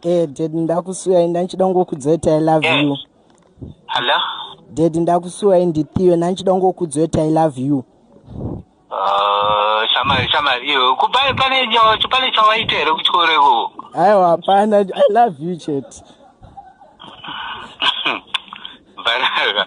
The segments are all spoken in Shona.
Eh, dad ndakusuwai ndanchida kungokudzwa kuti i love you Hello? dad ndakusuwai ndithiwe ndanchida kungokudzwa kuti i love you Uh, shamari shamari iyo kupai pane nyo- pane chawaita here kuchikoro ikoko aiwa hapana i love you chete Banaka.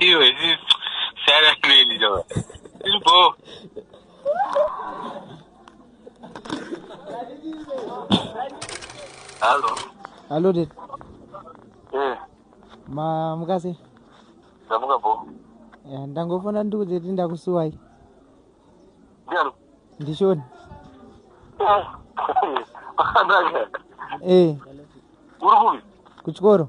iwe sara nini jo ilbo Hello. Hello, Dad. Eh. Ma mukase. Ndamuka bo. Eh, ndangofona ndikuze kuti ndakusuwai. Ndiani? Ndishoni. Eh. Akandaka. Eh. Uri kupi? Kuchikoro.